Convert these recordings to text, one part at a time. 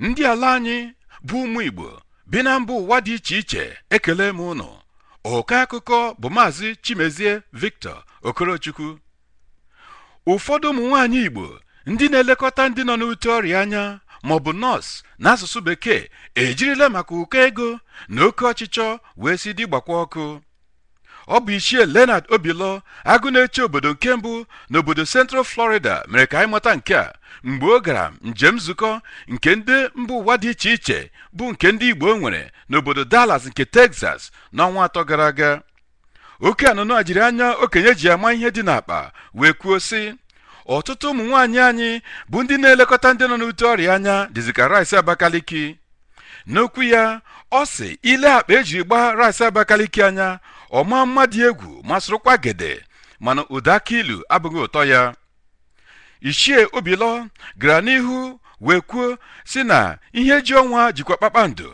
ndị ala anyị bụ ụmụ Igbo bi na mba ụwa dị iche iche ekele m unu oke akụkọ bụ maazị Chimezie Victor Okorochukwu ụfọdụ ụmụ nwaanyị Igbo ndị na-elekọta ndị nọ n'ute ọrịa anya maọbụ nọọsụ n'asụsụ bekee ejirila maka ụkọ ego na oke ọchịchọ wee sị di gbakwa ọkụ ọ bụ ichie Leonard Obilo agụ na-eche obodo nke mbụ n'obodo Central Florida mere ka anyị mata nke a mgbe ọ gara njem nzukọ nke ndị mba ụwa dị iche iche bụ nke ndị Igbo nwere n'obodo Dallas nke Texas n'ọnwa atọ gara aga oke anụnụ a jiri anya okenye ji ama ihe dị n'akpa wee kwuo sị ọtụtụ ụmụ nwaanyị anyị bụ ndị na-elekọta ndị nọ n'ute ọrịa anya dịzị ka rice Abakaliki n'okwu ya ọ sị i lee akpa ejiri gbaa rice Abakaliki anya ọ maa mma dị egwu masịrịkwa gede mana ụda akị ilu abụghị ụtọ ya ichie Obilo gara n'ihu wee kwuo sị na ihe ji ọnwa jikwa kpakpando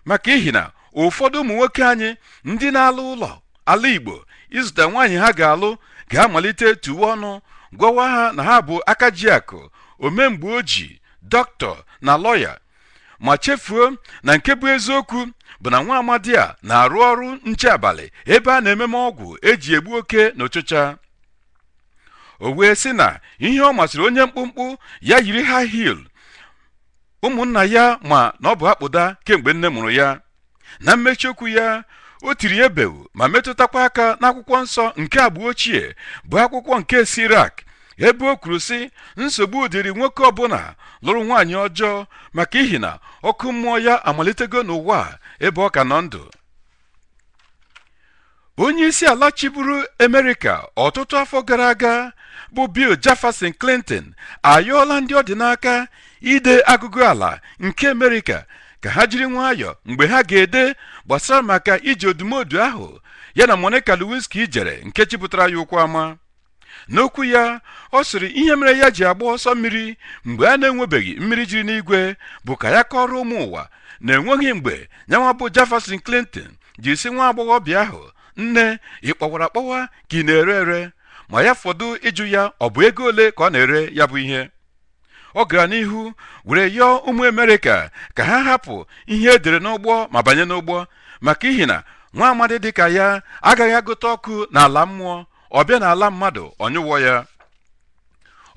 maka ihi na ụfọdụ ụmụ nwoke anyị ndị na-ala ụlọ ala Igbo ịzụta nwaanyị ha ga-alụ ga-amalite tuwe ọnụ gwawa ha na ha bụ aka ji akụ ome mgbe o ji dọkịta na lọya ma chefuo na nke bụ eziokwu bụ na nwa amadi a na-arụ ọrụ nche abalị ebe a na-ememe ọgwụ eji egbu oke na ụchịcha o wee sị na ihe ọ masịrị onye mkpụmkpụ ya yiri high heel ụmụnna ya ma na ọ bụ akpụda kemgbe nne mụrụ ya na mmechi okwu ya o tiri ebewu ma metụtakwa aka n'akwụkwọ nsọ nke agba ochie bụ akwụkwọ nke Sirak ebe o kwuru sị nsogbu dịrị nwoke ọbụla lụrụ nwaanyị ọjọọ maka ihi na ọkụ mmụọ ya amalitego n'ụwa ebe ọ ka nọ ndụ onye isi ala chịburu Amerịka ọtụtụ afọ gara aga bụ Bill Jefferson Clinton ayọọla ndị ọ dị n'aka ide agụgụ ala nke Amerịka ka ha jiri nwayọọ mgbe ha ga-ede gbasara maka ije odumodu ahụ ya na Monica Lewinsky jere nke chịpụtara ya ụkwụ ama n'okwu ya ọ sịrị ihe mere ya ji agba ọsọ mmiri mgbe a na-enwebeghị mmiri jiri n'igwe bụ ka ya kọọrọ ụmụ ụwa na enweghị mgbe nyanwa bụ Jefferson Clinton ji sị nwa agbọghọbịa ahụ nne ị kpọwara akpọwa ka ị na-ere ere ma ya fọdụ ịjụ ya ọ bụ ego ole ka ọ na-ere ya bụ ihe ọ gara n'ihu were yọọ ụmụ Amerịka ka ha hapụ ihe edere n'ụgbọ ma banye n'ụgbọ maka ihi na nwa amadi dịka ya agaghị agụta ọkụ n'ala mmụọ ọ bịa n'ala mmadụ ọ nyụọ ya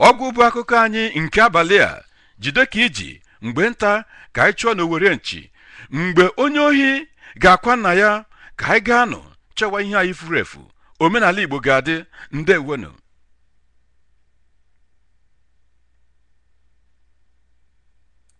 ọgwụ bụ akụkọ anyị nke abalị a jide ka i ji mgbe nta ka anyị chụọ n'owere nchi mgbe onye ohi ga-akwa nna ya ka anyị gaa nụ chọwa ihe anyị furu efu omenala igbo ga-adị ndewonụ